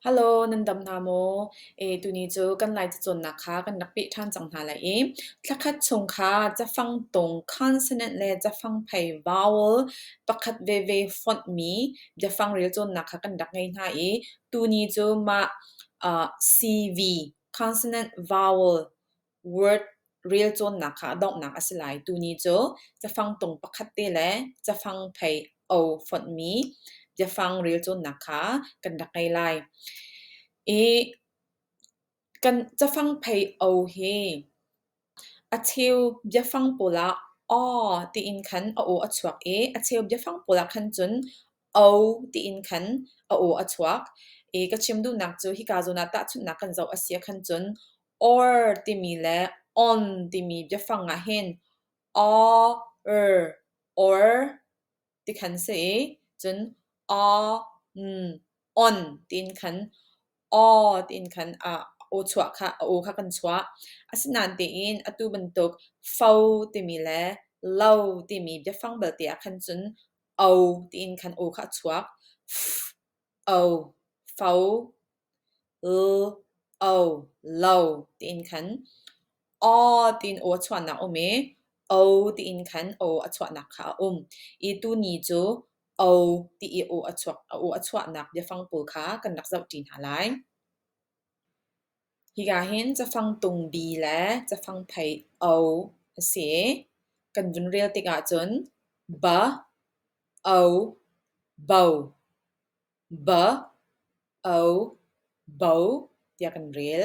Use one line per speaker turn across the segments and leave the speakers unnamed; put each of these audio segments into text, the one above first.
Halo, nan dam hna maw? E, tuni cu kan Laica cawnnak kha kan rak peh ṭhan cang hna lai i thlakhat chung kha cafang tung consonant le cafang phei vowel pakhat veve fonhmi biafang rel cawnnak kha kan rak ngei hna i tuni cu mah ah CV consonant vowel word relcawnnak kha a donghnak a si lai. Tuni cu cafang tung pakhat te le cafang phei o fonhmi biafang relcawnnak kha kan rak ngei lai. I kan cafang phei o hi a cheu biafang pawl ah aw tiin khan a o a chuak i a cheu biafang pawl ah khan cun O tiin khan a aw a chuak i ka chim duhnak cu hika zawn ah tahchunhnak kan zoh a si ah khan cun or timi le on timi biafang ah hin or or ti khan si i cun on on tiin khan o tiin khan a aw chuah kha a aw kha kan chuah asinain tiin atu bantuk fo timi le lo timi biafang belte ah khan cun "O" tiin khan aw kha a chuak. "F-o", "fo", "l-o", "lo" tiin khan "aw" tiin aw a chuahnak a um i "o" tiin khan aw a chuahnak kha a um i tu ni cu "o" ti i aw a chuak a aw a chuahnak biafang pawl kha kan rak zoh ṭi hna lai. Hika hin cafang tungbi le cafang phei o a si i kan vun rel tikah cun ba, o, bo, ba, o, bo tiah kan rel.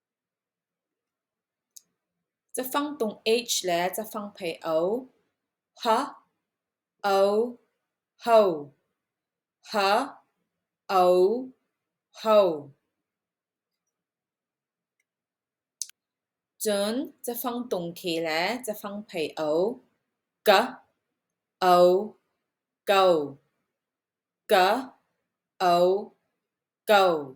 Cafang tung H le cafang phei o, ha, o, ho, ha, o, ho. Cun cafang tung khi le cafang phei o, ka, o, ko, ka, o, ko.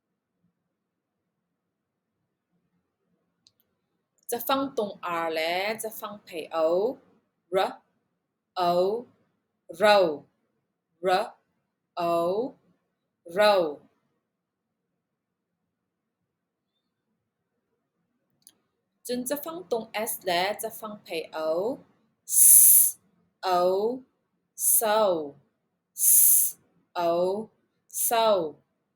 Cafang tung ar le cafang thei o, ra, o, ro, ra, o, ro. Cun cafang tung s le cafang thei o, s, o, so, s, o, so.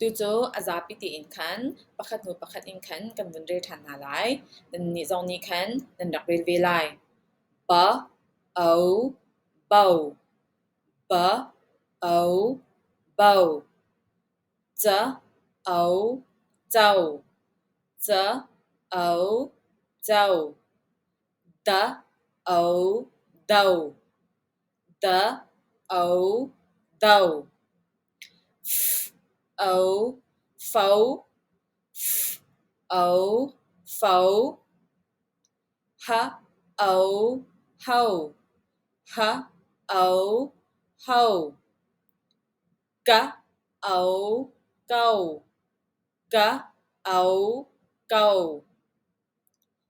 Tucu a zapi tein khan pakhat hnu pakhat in khan kan vun rel ṭhan hna lai. Nannih zong nih khan nan rak rel ve lai. Ba, o, bo, ba, o, bo, ca, o, co, ca, o, co. Da Ao Do Da Ao Do F Ao Fao F Ao Fao Ha Ao Hao Ha Ao Hao Ka Ao Kao Ka Ao Kao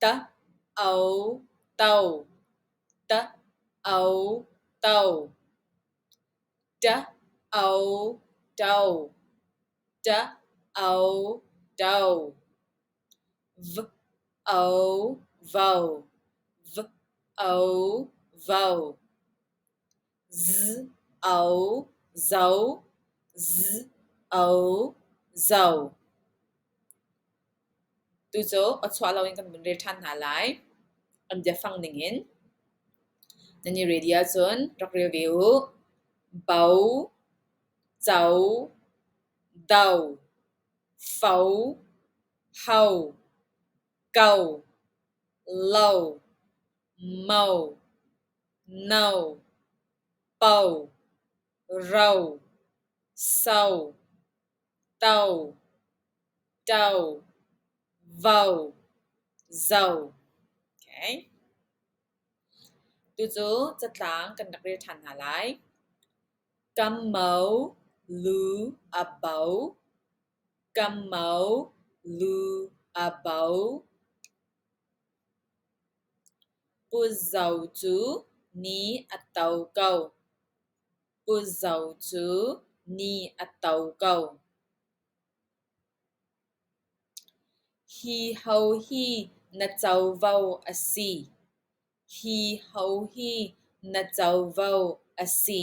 Ta-au to, ta-au to, ta-au to, ta-au to, v-au-vau, v-au-vau Z O Zo Z O Zo Tu cu a chuah lo in kan vun rel ṭhan hna lai. An biafang ning in. Nan i ready ahcun rak rel ve u. Bo Zo Do Fo Ho Go Lo Mo No, po, ro, so, to, to, vo, zo. Okay. Tucu catlang kan rak rel ṭhan hna lai. Ka mo, lu, a bo, Kammo lu a bo. Pu Zo cu ni a to ko. Pu Zo cu ni a to ko. Hi ho hi na covo a si. Hi ho hi na covo a si.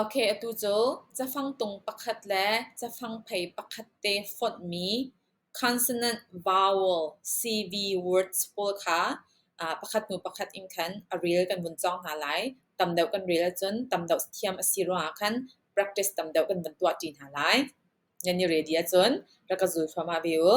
Atu cu cafangtung pakhat le cafangphei pakhat te fonhmi consonant vowel CV words pawl kha pakhat hnu pakhat in khan a rel kan vun cawng hna lai. Tam deuh kan rel ahcun tam deuh thiam a si ruangah khan practice tam deuh kan vun tuahṭi hna lai. Nan i ready ahcun rak ka zul thluahmah ve u.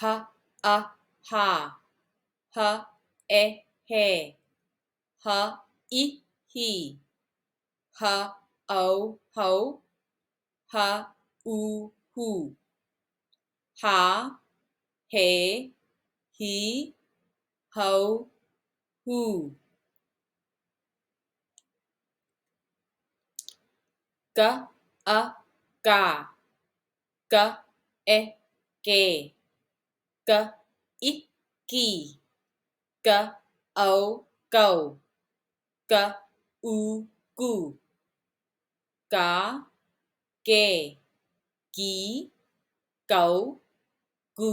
Ha a ha ha e he ha i hi ha au hau ha u hu ha he hi hau hu. Ka a ka ka e ke ka i ki ka ao kau ka u ku ka ke ki kau ku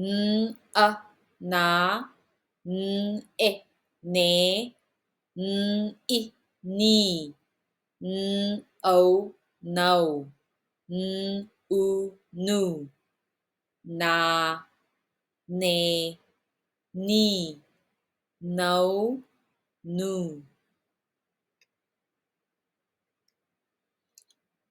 N-a naa n-e nee n-i nii n-o nau n-u-nu naa nee nii nau-nu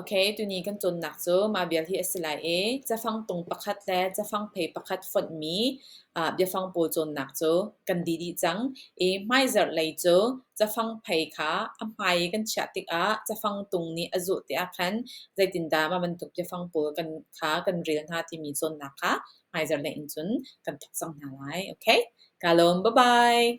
Ok, tuni kan cawnnak cu mah vial hi a si lai i cafang tung pakhat le cafang phei pakhat fonhmi ah biafang pawl cawnnak cu kan dih dih cang i hmaizarh lei cu cafang phei kha a hmai i kan chiah tikah cafang tung nih a zuh tiah khan zeitindah mah bantuk biafang pawl kan kha kan rel hna timi cawnnak kha hmaizarh lei in cun kan thawk cang hna lai. Ok, kaa lawm, bye-bye.